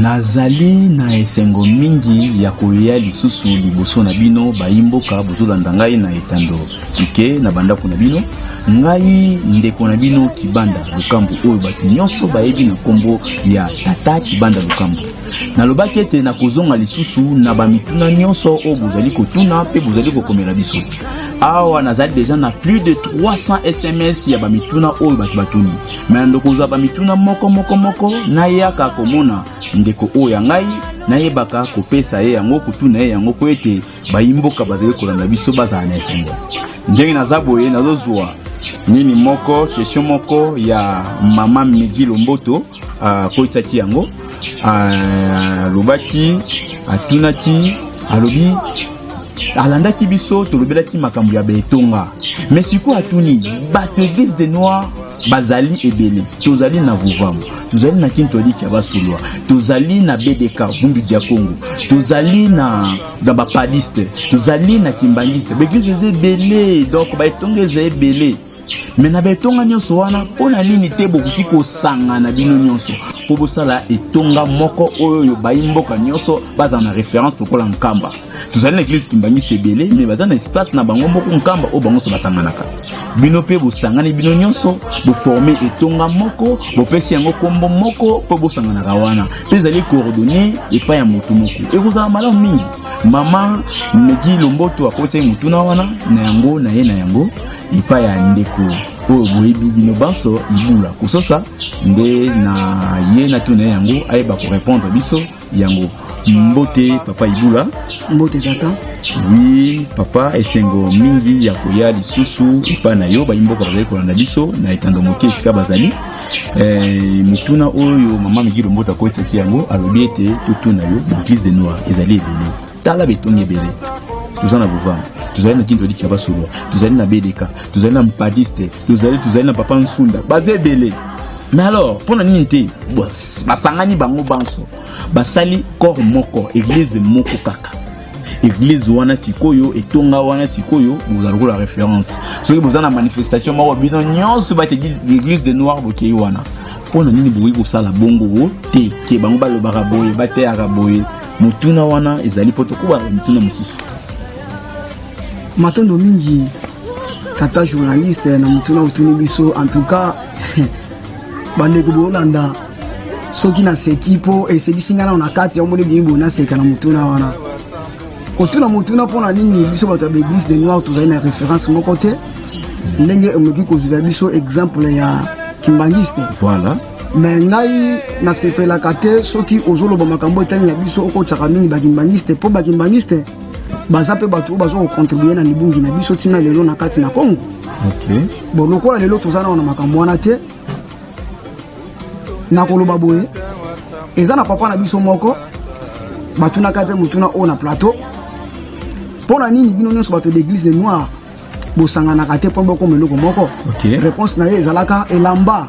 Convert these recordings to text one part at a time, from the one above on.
nazali na esengo mingi ya koya lisusu liboso na bino bayimboka bozolanda ngai na etando ike na bandako na bino ngai ndeko na bino kibanda lokambo oyo bato nyonso bayebi na nkombo ya tata kibanda lokambo Nalobaki ete nakozonga lisusu na bamituna nyonso oyo bozali kotuna mpe bozali kokomela biso. Awa nazali deja na plus de 300 SMS ya bamituna oyo bato batuni. Me na ndokozwa bamituna moko moko moko, nayaka komona ndeko oyo ya ngai nayebaka kopesa ye yango kotuna ye yango mpo ete bayimboka bazali kolanda biso bazala na esengo ndenge naza boye nazozwa nini moko question moko ya mama migi lomboto akotisaki yango alobaki atunaki alobi alandaki biso tolobelaki makambo ya betonga me sikoyo atuni bato eglise de noir bazali ebele tozali na vuvamu tozali na kintoliki ya basulwa tozali na bdk bumbidi ya congo tozali na na bapadiste tozali na kimbangiste baeglise eza ebele donc baetonga eza ebele me na baetonga nyonso wana mpo na nini te bokoki kosangana bino nyonso mpo bosala etonga moko oyo bayi mboka nyonso bazala na reference lokola nkamba tozali na eglise kimbangisto ebele me baza na espace na bango moko nkamba oyo bango nyonso basanganaka bino mpe bosangani bino nyonso boforme etonga moko bopesi yango nkombo moko mpo bosanganaka wana mpe ezali coordonne epai ya motu moko ekozala malamu mingi mama megi lomboto akotisaki motuna wana na yango na ye na yango epai ya ndeko oyo boyebi bino banso ibula kososa nde na ye natuna ye yango ayeba korepondre biso yango mbote papa ibula mbote tata wi papa esengo mingi ya koya lisusu epai na yo bayimboka bazali kolanda biso na etando moke esika bazali eh, mituna oyo mama migiro mbote akotisaki yango alobi ete totuna yo baeglise de noir ezali ebele tala betongi ebele toza na vuvama tozali na kinto elikya basolo tozali na bedeka tozali na mpadiste tozali tozali na papa nsunda baza ebele mais alors mpo na nini te basangani bango banso basali corps moko eglize moko kaka eglize wana sikoyo etonga wana sikoyo boza lokola référence soki boza na manifestation moko bino nyonso bati eglise de noir bokei wana mpo na nini bokoki kosala bongo te ke bango balobaka boye bateyaka boye motuna wana ezali mpo tokoba na mituna mosusu matondo mingi tata journaliste na motuna otuni biso en tout cas bandeko bolanda soki naseki mpo esekisi ngai nao na kati ya omoni biyibo naseka na motuna wana kotuna motuna mpo na nini biso bato ya baeglise de noir tozali na référence moko te ndenge omoki kozwela biso exemple ya kimbangiste voilà me ngai nasepelaka te soki ozoloba makambo etali na biso okotisaka mingi bakimbaniste mpo bakimbaniste baza mpe bato oyo baza kocontribue na libungi na biso ntina lelo na kati na congo okay. bon lokola lelo toza nao na makambo wana te nakoloba boye eza na papa na biso moko batunaka mpe motuna oyo na plateau mpo na nini bino nyonso bato d'église de noire bosanganaka te mpo bokoma eloko moko okay. réponse na ye ezalaka elamba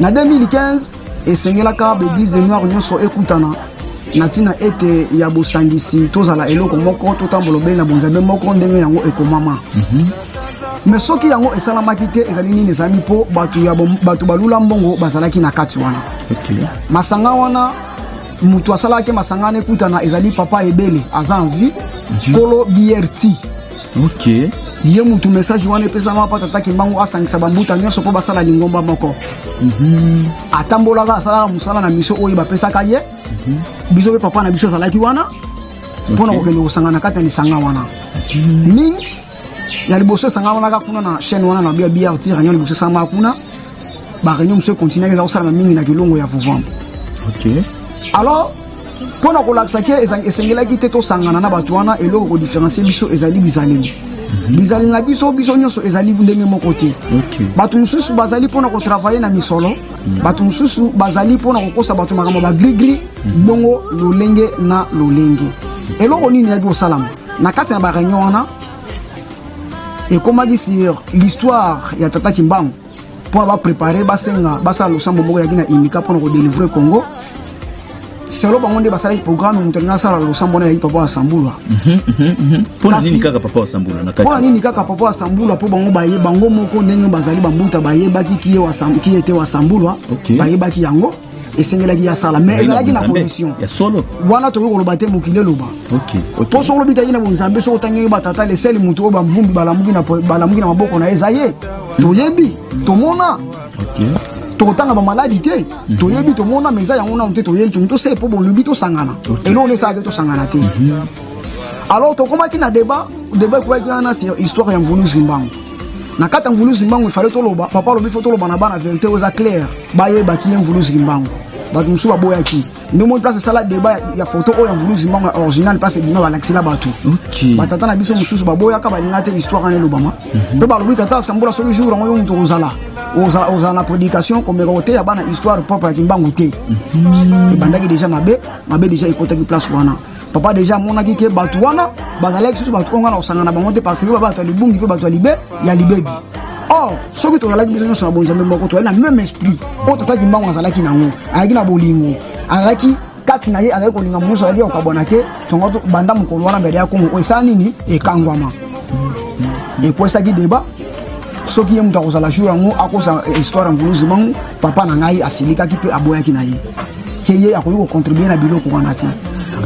na 2015 esengelaka baeglise de noir nyonso ekutana na ntina ete ya bosangisi tozala eloko moko totambola obele na bonzambe moko ndenge yango ekomama mm -hmm. me soki yango esalamaki te ezali nini ezali mpo bato balula mbongo bazalaki na kati wana okay. masanga wana moto asalaki masanga wana ekutana ezali papa ebele aza en vie mhm. nkolo mm -hmm. brt Okay. ye mutu message wana epesama mpo tata kimbangu asangisa bambuta nyonso mpo basala lingomba moko mm -hmm. atambolaka asalaka mosala na miso oyo bapesaka ye mm -hmm. biso mpe papa na biso azalaki wana mpo na okay. kokende kosangana kati ya lisanga wana mm -hmm. mingi ya liboso esangamanaka kuna na chaîne wana na bia brt réunion liboso esangamaka kuna baréunion mosusu ekontinuaki eza kosalama mingi na kilongo ya vovambo okay. alors mpo na kolakisa ke esengelaki te tosangana na bato wana eloko kodiferencie biso ezali bizaleli mhm. bizali na biso biso nyonso ezali ndenge moko te bato mosusu bazali mpo na kotravaille na misolo mhm. bato mosusu bazali mpo na kokosa bato makambo bagrigri mhm. bongo lolenge na lolenge eloko nini yaki kosalama na kati na bareunion wana ekomaki sur l'histoire ya tata kimbangu mpo baprepare basenga basala losambo moko yaki na imika mpo na kodelivre congo selo bango nde basalaki programme moto alingi asala losambo na yaki papa ya sambula mhm, mhm, mhm. mpo na nini kaka papa ya sambula na kati mpo na nini kaka papa ya sambula mpo bango baye bango moko ndenge bazali bambuta bayebaki kiye te wa sambula bayebaki yango esengelaki asala mais ezalaki na condition ya solo wana tokoki koloba te mokili eloba mpo soki olobi tayei na bonzambe soki otangi batata leseli motu oyo bamvumbi balamuki na maboko na ye eza ye toyebi tomona tokotanga bamaladi te mhm. toyebi tomona ma eza yango nano te toyebi tomi tosee mpo bolobi tosangana eloko nde esalaki tosangana te mhm. alors tokomaki na débat débat ekoyaki wana sur histoire ya mvulus limbango na kati ya mvuluzi mbangu ifale toloba papa alobi fo toloba na bana verité oyo eza claire bayebaki ye mvuluzi mbangu bato mosusu baboyaki nde omoni place esala deba ya foto oyo ya mvuluzi mbangu ya original place ebima balakisela bato batata na biso mosusu baboyaka balinga te histoire wana elobama mhm. mpe balobi tata asambola soki jour yango yo moto ozala ozala na prédication komeka koteya bana histoire propre ya kimbangu te mhm. ebandaki deja mabe mabe deja ekotaki place wana papa deja amonaki ke bato wana bazalaki susu bato oyo nga na kosangana bango te parce que bato ya libungi mpe bato ya libe ya libebi or soki tozalaki biso nyonso na bonzambe moko tozali na même esprit oyo tata kimbangu azalaki nango azalaki na bolingo azalaki kati na ye azali kolinga mosusu azalaki kokabwana te tongo banda mokolo wana mbele ya kongo oyo esala nini ekangwama ekwesaki deba soki ye moto akozala jour yango akosa histoire ya mvuluzi mango papa na ngai asilikaki mpe aboyaki na ye ke ye akoki kocontribue na biloko wana te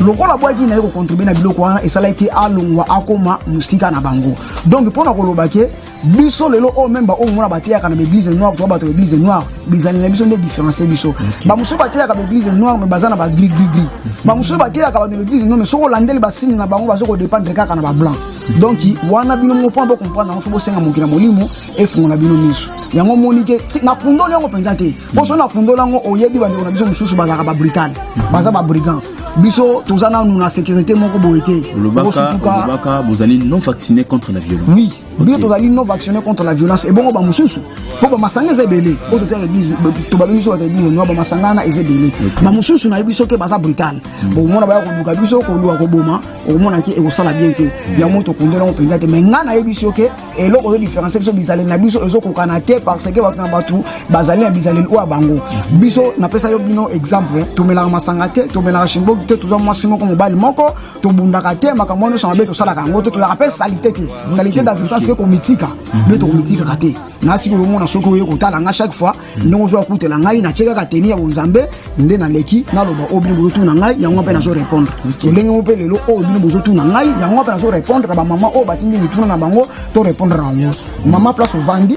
lokola bwaki na ye kocontribue na biloko wana esalaki alongwa akoma mosika na bango donc mpo na koloba ke biso lelo oyo meme baoyo mona bateyaka na baeglise noire to bato ya eglise noire bizali na biso nde différencie biso bamosusu bateyaka baeglise noire me baza na bagri grigri bamosusu bateyaka bato ya baeglise noire me soki olandeli basini na bango baza kodépendre kaka na bablanc donc wana bino moko mpona bocomprendre yango fo bosenga mokili ya molimo efungola bino miso yango omoni ke nakundoli yango mpenza te mpo soki nakundola yango oyebi bandeko na biso mosusu bazalaka babrital baza babrigand biso toza nanu na sécurité moko boye te olobaka bozali non vacciné contre la violence oui biso tozali non vacciné contre la violence ebongo bamosusu mpo bamasanga eza ebele oyo totaka église tobabengi biso bato église noa bamasanga wana eza ebele bamosusu nayebi soki baza brital hmm. bokomona baya koluka biso koluka koboma okomonaki ekosala bien te hmm. yango tokundela yango mpenza te mai ngai nayebi soki eloko ozo différencier biso bizaleli na biso ezokokana te parce que bato na bato bazali na bizaleli oyo ya bango biso napesa yo bino exemple tomelaka masanga te tomelaka shimboki te toza mwasi moko mobali moko tobundaka te makambo wana nyonso mabe tosalaka yango te tozalaka mpe salite te salite dans ce sens ke komitika mpe tokomitikaka te na sikoyo omona soki oye kotala nga chaque fois ndenge ozo akutela ngai na tie kaka teni ya bonzambe nde naleki naloba oyo bino bozotuna ngai yango mpe nazo répondre lolenge mo mpe lelo oyo bino bozotuna ngai yango mpe nazo répondre na bamama oyo batindi mituna na bango to répondre na bango mama place ovandi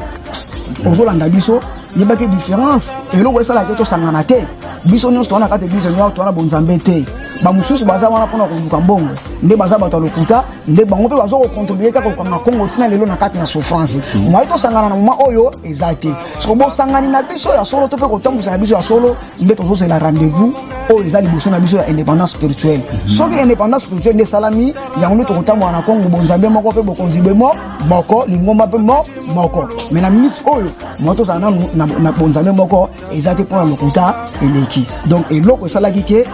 ozolanda biso yebaki différence eloko esalaki tosangana te biso nyonso towana kati eglise noire towana bonzambe te bamosusu baza wana mpona koluka mbongo nde baza bato ya lokuta nde bango mpe baza kokontribue kaka kokanga kongo ntina lelo na kati na souffrance moye tosangana na moma oyo eza te soko bosangani na biso ya solo to mpe kotambwisa na biso ya solo nde tozozela rendez-vous oyo eza liboso na biso ya indépendance spirituelle mhm. soki indépendance spirituelle nde esalami yango nde tokotambola na kongo bonzambe moko mpe bokonzi be mo moko lingomba mpe mo moko mai na minute oyo moto tozala nanu na bonzambe moko eza te mpo na lokuta eleki donc eloko esalaki ke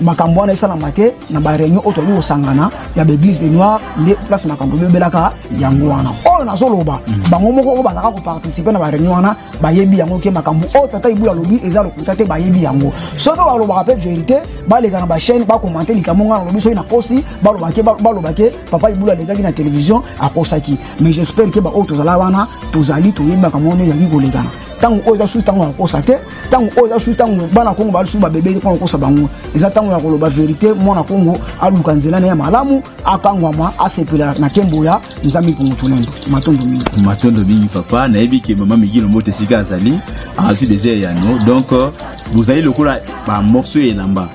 makambo wana esalama te na bareunion oyo toyali kosangana ya baeglise de noir nde place makambo ebebelaka yango wana oyo nazoloba bango moko oyo bazalaka koparticipe na bareunion wana bayebi yango ke makambo oyo tata ibulu alobi eza lokuta te bayebi yango soki balobaka mpe verité baleka na bachaine bakomante likambo ngai nalobi soki nakosi balobake balobake papa ibulu alekaki na télévision akosaki mais j'espère ke baoyo tozala wana tozali toyebi makambo wana ezalaki kolekana ntango oyo eza susu ntango ya kokosa te ntango oyo eza susu ntango bana kongo balisusu babebeli mpo na kokosa bango eza ntango ya koloba verité mwana kongo aluka nzela na ye ya malamu akangwama asepela na nkembo ya nzambe mpongo tolendo matondo mingi matondo mingi papa nayebi ke mama migi lombote esika azali azwi deja eyano donc euh, bozali lokola bamorso ya elamba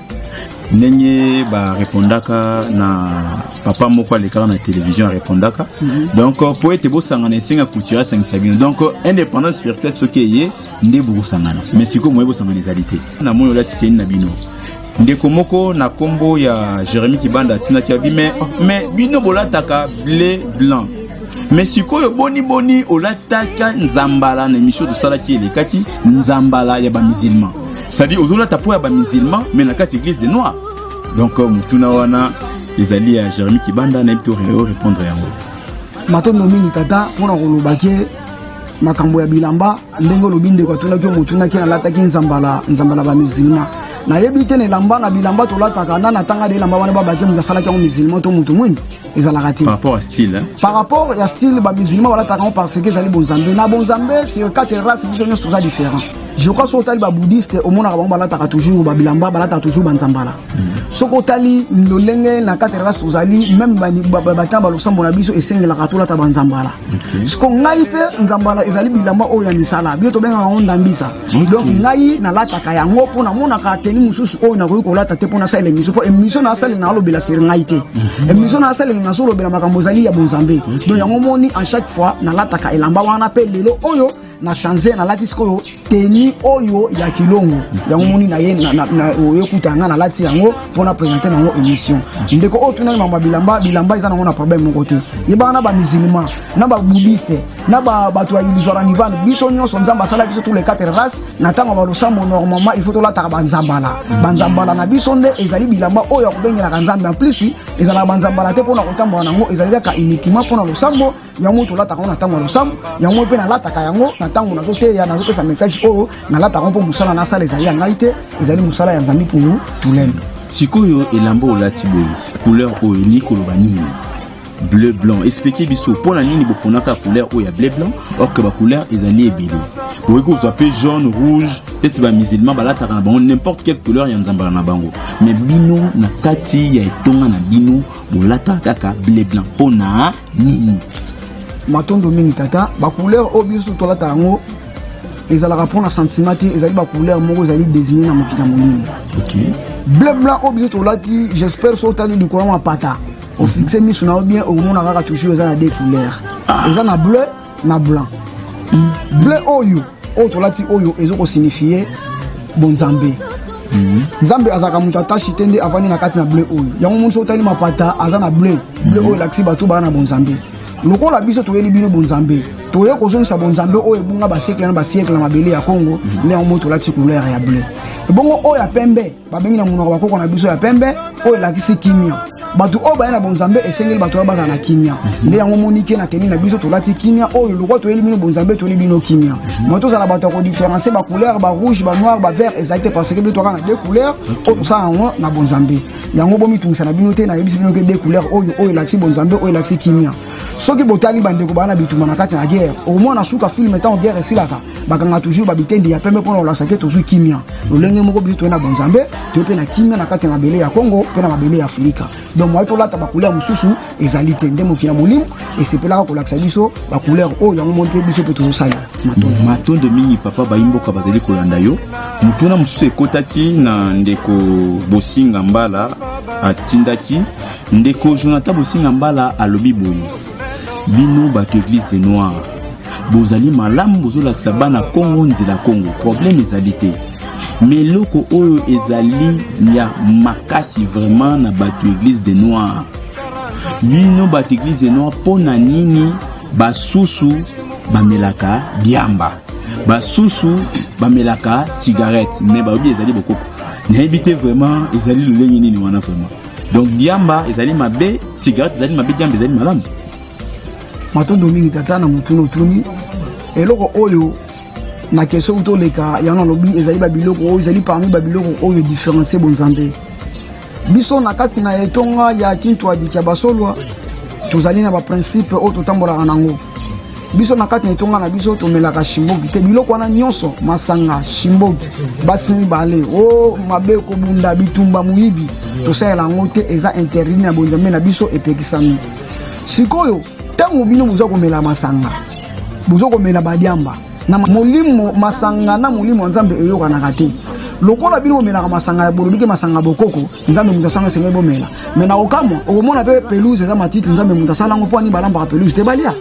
ndenge barepondaka na papa moko alekaka na televizio arepondaka mm -hmm. donc mpo euh, ete bosangana esenga kulture asangisa bino donc euh, indépendance spirituelle soki eye nde bokosangana mais sikoyo moye bosangana ezali te namoni olati teni na bino ndeko moko na kombo ya jeremi kibanda atunaki abi me me bino bolataka ble blanc me sikoyo boni boni olataka nzambala na emission tosalaki elekaki nzambala ya bamisilman c'est-à-dire ozolata mpo ya bamisilman me na kati église de noir donc euh, motuna wana ezali ya jeremi kibanda nayebi to répondre yango matondo mingi tata mpo na kolobaki makambo ya bilamba ndenge olobi ndeko atunaki yo motunaki nalataki nzambala nzambala ba musulman nayebi te na elamba na bilamba tolataka na natanga de elamba wana babaki moto asalaki yango musulman to moto mwini ezalaka te par rapport ya style ba musulman balataka yango parce que ezali bonzambe na bonzambe sur quatre race biso nyonso toza différent je crois soki otali babouddhiste omonaka bango balataka toujours babilamba balataka toujours banzambala soki otali lolenge na kati ya kasi tozali meme batanga balosambo na biso esengelaka tolata banzambala siko ngai mpe nzambala ezali bilamba oyo ya misala bino tobengaka yango ndambisa donc ngai nalataka yango mpo namonaka teni mosusu oyo nakoki kolata te mpo nasalela emisio mpo emisio nasalela nalobela seri ngai te mhm. emisio nasalela nazolobela makambo ezali ya bonzambe donc yango moni en chaque fois nalataka elamba wana mpe lelo oyo na change nalati sikoyo teni oyo ya kilongo yango moni na ye oyokutana ngai nalati yango mpo na présente na yango émission ndeko oyo tunaki mama bilamba bilamba eza nango na problème moko te yebaka na bamusulman na babudiste na bato ya ilizwara nivane biso nyonso nzambe asala biso tous les quatre race na ntango ya balosambo normalement il faut tolataka banzambala banzambala na biso nde ezali bilamba oyo ya kobengelaka nzambe en plus ezalaka banzambala te mpo na kotambola na yango ezali kaka uniquement mpo na losambo yango tolataka yango na ntango ya losambo yango mpe nalataka yango na ntango nazoteya nazopesa message oyo nalataka yango mpo mosala nasala ezali ya ngai te ezali mosala ya zambi punu tulembe sikoyo elamba olati boye couleur oyo elingi koloba nini bleu blanc explike biso mpo na nini boponaka couleur oyo ya bleu blanc or que bacouleur ezali ebele bokoki kozwa mpe jaune rouge neti bamusulman balataka na bango n'importe quelle couleur ya nzambala na bango mais bino na kati ya etonga na bino bolataka kaka bleu blanc mpo na nini matondo mingi tata bacouleur oyo biso tolata yango ezalaka mpona sentiment te ezali bacouleur moko ezali désigne na mokili ya molimo okay. bleu blanc oyo biso tolati j'espère so otali likolo ya mapata ofixe miso na yo bien okomona kaka toujours eza na deux couleur ah. eza na bleu na blanc mm. bleu oyo oyo tolati oyo ezo ko signifier bonzambe mhm. nzambe azalaka moto atashi te nde avandi na kati na bleu oyo yango moni soki otali mapata aza na bleu bleu mhm. oyo elakisi bato baa na bonzambe lokola biso toyeli bino bonzambe toye kozongisa bonzambe oyo ebunga basiekle na basiekle na mabele ya congo mhm. nde yango moi tolakisi couleur ya bleu ebongo oyo ya pembe babengi na monoko bakoko na biso ya pembe oyo elakisi kimia bato oyo baya na bonzambe esengeli bato wana bazala na kimia mhm. nde yango monike na teni na biso tolati kimia oyo lokwa toyeli bino bonzambe toyeli bino kimia mhm. ma tozala bato ya kodiferencie bacouleur barouge banoir bavert ezali te parce que bino toyaka na deux couleur oyo tosala yango na bonzambe yango bomitungisa na bino te nayebisi bino ke deux couleur oyo oyo elakisi bonzambe oyo elakisi kimia soki botali bandeko baa na bituma na kati na guerre omona suka filme ntango guerre esilaka bakanga toujours babitendi ya pembe mpona kolakisa te tozwi kimia lolenge moko biso toye na bonzambe toye mpe na kimia na kati ya mabele ya congo mpe na mabele ya afirika donc moye tolata bacouleur mosusu ezali te nde mokili ya molimo esepelaka kolakisa biso bacouleur oyo yango moni mpe biso mpe tozosalela matondo matondo mingi papa bayimboka bazali kolanda yo motuna mosusu ekotaki na ndeko bosinga mbala atindaki ndeko jonathan bosinga mbala alobi boye bino bato eglise de noir bozali malamu bozolakisa bana kongo nzela kongo problème ezali te me eloko oyo ezali ya makasi vraiment na bato eglise de noir bino bato eglise de noir mpo na nini basusu bamelaka diamba basusu bamelaka cigarette me bayobi ezali bokoko nayebi te vraiment ezali lolenge nini wana vraiment donc diamba ezali mabe cigarette ezali mabe diamba ezali malamu matondo mingi tata na motuna otuni eloko oyo na kestion oyo toleka yango nalobi ezali babiloko oyo ezali parmi babiloko oyo différencie bonzambe biso na kati na etonga ya kintuadi kya basolwa tozali na baprincipe oyo totambolaka nango biso na kati na etonga na biso tomelaka shimbogi te biloko wana nyonso masanga shimbogi basi mibale o oh, mabe kobunda bitumba moyibi tosalela yango te eza interdit na bonzambe na biso epekisami sikoyo ntango bino boza komela masanga boza komela badiamba na molimo masanga na molimo ya nzambe eyokanaka te lokola bino bomelaka masanga ya bolobi ke masanga bokoko nzambe moto asanga esengeli bomela me na kokamwa okomona mpe pelouse eza matiti nzambe moto asala yango mpo ani balambaka pelouse te balia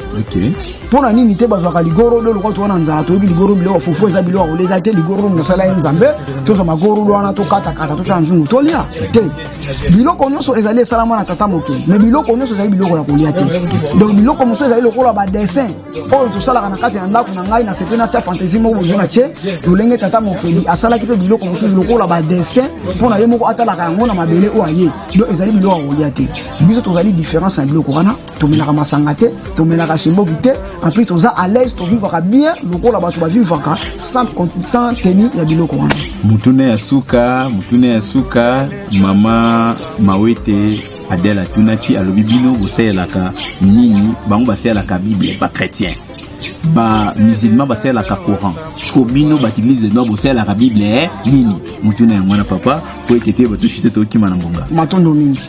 mpo na nini te bazwaka ligorodo lokola towana nzala toyebi ligoro biloko fufu eza biloko kolia eza te ligorodo moto asala ye nzambe tozwa magorodo wana tokatakata totya na nzungu tolia te biloko nyonso ezali esalama na tata mokili me biloko nyonso ezali biloko ya kolia te donc biloko mosusu ezali lokola badessin oyo tosalaka na kati ya ndako na ngai nasepeli natya fantaisie moko bozo na tie lolenge tata mokeli asalaki mpe biloko mosusu lokola badessin mpo na ye moko atalaka yango na mabele oyo aye do ezali biloko ya kolia te biso tozali différence na biloko wana tomelaka masanga te tomelaka shemboki te en plus toza à l'aise tovivaka bien lokola bato bavivaka sans teni ya biloko wana motuna ya suka motuna ya suka mama mawete Adèle atunaki alobi bino bosalelaka nini? Bango basalelaka Bible, ba chrétien ba musulman basalelaka coran siko bino bato eglise de nord bosalelaka bible eh, nini motuna yango wana papa mpo ete te batushi te tokima na ngonga matondo mingi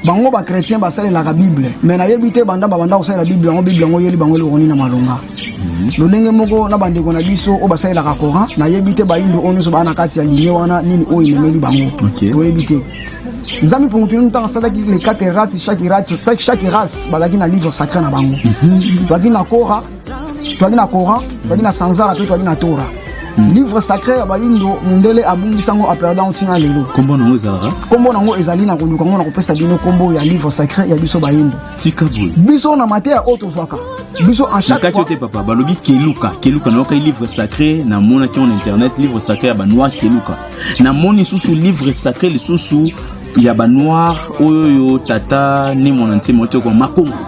bango bachrétien basalelaka bible me nayebi te banda babanda kosalela bible yango bible yango yeli bango elokoni na malonga mhm. lolenge moko na bandeko na biso oyo basalelaka coran nayebi te bayindo oyo nyonso baa na kati ya linie wana nini oyo ememeli bango toyebi te nzambe mpo moto ntango asalaki les quatre races chaque race chaque race bazalaki na livre sacré na bango mhm. toyaki na kora toyaki na coran toyaki na sanzara mpe toyaki na tora mhm. livre sacré ya bayindo mondele abungisa yango aperdant ntina lelo nkombo nango ezalaka nkombo nango ezali na koluka yango na kopesa bino nkombo ya livre sacré ya biso bayindo tika boye biso na mateya oyo tozwaka biso en chaque fois te papa balobi keluka keluka nayokaki livre sacré namonaki yango na internet livre sacré ya banoir keluka namoni lisusu livre sacré lisusu ya banoir oyoyo tata ni mwana ntima oteko makongo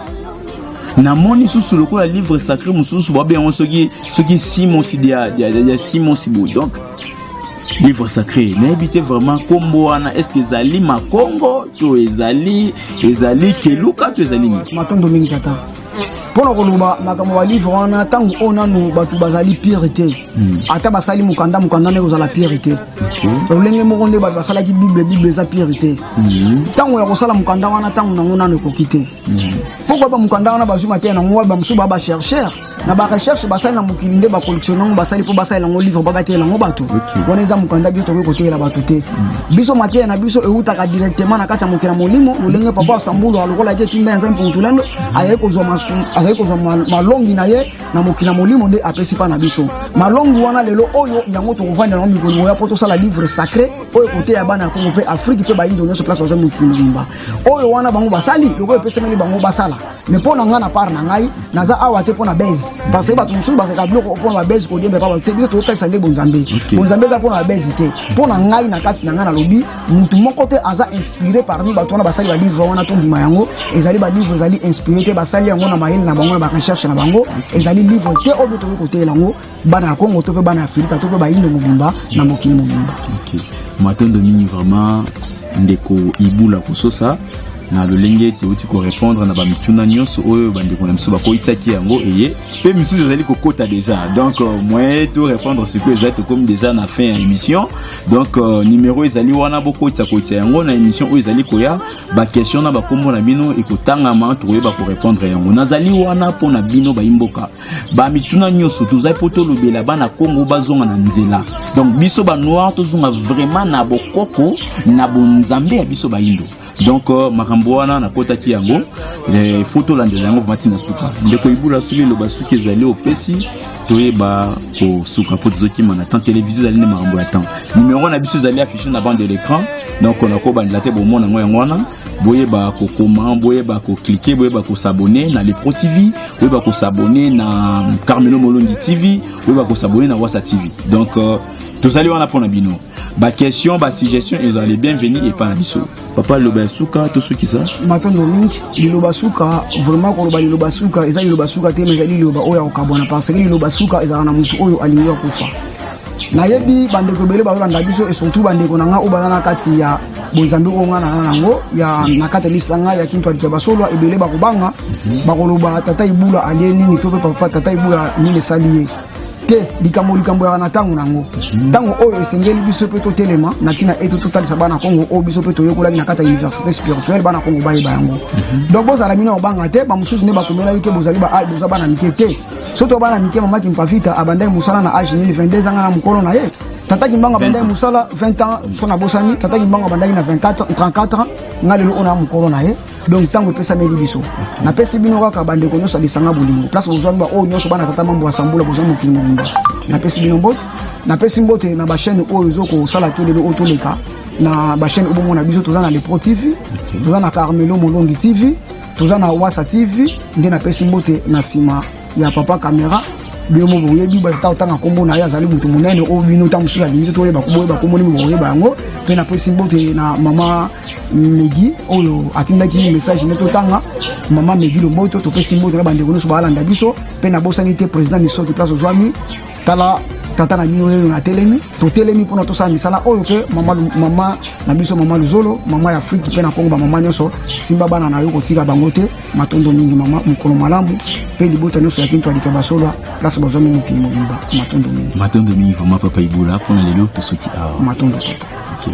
namoni susu lokola livre sacré mosusu babi yango soki soki simosi ya simosi boye donc livre sacré nayebi te vraiment nkombo wana estce ezali makongo to ezali ezali keluka to ezali nini matondo mingi tata mpo na koloba makambo ya livre wana ntango oyo nano bato bazali pire te hmm. ata basali mokanda mokanda nde kozala pire te lolenge moko nde bato basalaki bible bible eza pire te hmm. ntango ya kosala mokanda wana ntango nango nano ekoki te hmm. fo koyeba mokanda wana bazwi mateya nango waba mosusu baa bachercheur na barecherche basali na mokili nde bacollectionne yango basali mpo basalela yango livre babateyela yango bato wana eza mokanda biso tokoki koteyela bato te biso mateya na biso ewutaka directement na kati ya mokili ya molimo lolenge papa sambulu alokolaki etinda ya nzambe mpo motulendo azali kozwa malongi na ye na mokili ya molimo nde apesi mpa na biso malongi wana lelo oyo yango tokovanda yango mikolo moya mpo tosala livre sacré oyo koteya bana ya kongo mpe afrike mpe bayindo nyonso place bazwa mokili mobimba oyo wana bango basali lokola epesameli bango basala me mpo na ngai na part na ngai naza awa te mpo na base parce que bato mosusu bazalaka biloko mpo na babase kodiemba epa bato te biso tokotalisa nde bonzambe bonzambe eza mpo na babase te mpo na ngai na kati na ngai nalobi motu moko te aza inspiré parmi bato wana basali balivre wana tondima yango ezali balivre ezali inspiré te basali yango na mayele na bango na barecherche na bango ezali livre te oyo tokoki koteela yango bana ya kongo to mpe bana ya afirika to mpe bayindo mobimba na mokili mobimba okay. matondo mingi vraiment ndeko ibula kososa na lolenge ete outi korépondre na bamituna nyonso oyo bandeko na biso bakoyisaki yango eye mpe misusu ezali kokota déjà donc euh, moyen to répondre sikoyo eza tokomi déjà na fin ya émission donc euh, numéro ezali wana bokotisa koyisa yango na émission oyo ezali koya baquestion na bakombo na bino ekotangama tokoyeba korépondre yango nazali wana mpo na bino bayimboka ba mituna nyonso tozali mpo tolobela bana kongo bazonga na nzela donc biso banoir tozonga vraiment na bokoko na bonzambe ya biso bayindo donc euh, makambo wana nakotaki yango eh, fo tolandela yango vamati na suka ndeko ibula soki eloba suki ezali opesi toyeba kosuka mpo tozokima na temps televizio ezali nde makambo ya temps numero na biso ezali affiche na bande de l'écran donc nakobandela te bomona yango yango wana boyeba kokoma boyeba koklike boyeba kosabone na lepro tv boyeba kosabone na carmelo molongi tv boyeba kosabone na wasa tv donc uh, tozali wana mpo na bino baquestion basuggestion ezali bienvenu epai na biso papa liloba ya suka tosukisa matondo mingi liloba suka vraiment koloba liloba suka eza liloba suka te ma ezali liloba oyo ya kokabwana parce que liloba suka ezalaka na motu oyo alingi akufa nayebi bandeko ebele bazolanda biso esurtout bandeko na ngai oyo baza na kati ya bonzambe oyo ngai naza nango ya na kati ya lisanga ya kintu ya basolo ebele bakobanga bakoloba tata ibula alie nini to mpe papa tata ibula nini esali ye te likambo likambo yaka na ntango na yango ntango oyo esengeli biso mpe totelema na ntina ete totalisa bana kongo oyo biso mpe toyekolaki na kati ya université spirituelle bana kongo bayeba yango mhm. donc bozala bino kobanga te bamosusu nde bakomela yo te bozali ah, boza bana mike te soki to bana mike mamaki mpafita abandaki mosala na age nini 22 zanga na mokolo na ye tata kimbanga abandaki mosala 20 ans so nabosani tata kimbanga abandaki na 24 34 ans nga lelo oyo na mokolo na ye donc ntango epesameli biso napesi bino kaka bandeko nyonso ya lisanga bolingo place bozwami baoyo nyonso bana tata mambo ya sambula bozwa mokili mobimba napesi bino mbote napesi mbote na bachaine oyo ezo kosala to lelo oyo toleka na bachaine oyo bomona biso toza na lepro tv toza na carmelo molongi tv toza na wasa tv nde napesi mbote na nsima ya papa camera bino mo boyebi bata otanga nkombo na ye azali moto monene oyo bino ntango mosusu alingi toyeba boyeba nkombo nini bokoyeba yango mpe napesi mbote na mama megi oyo atindaki message nde totanga mama megi lomboto topesi mbote na bandeko nyonso baalanda biso mpe nabosani te président misoki place ozwami tala tata na bino oyo natelemi totelemi mpona tosala misala oyo mpe mama na biso mama luzolo mama ya afrike mpe na kongo bamama nyonso simba bana na yo kotika bango te matondo mingi mama mokolo malamu mpe libota nyonso ya kintu alike basolwa place bazwami mokili mobimba matondo mingi matondo mingi vraimen papa ibola mpona lelo tosoki awa matondo papa okay.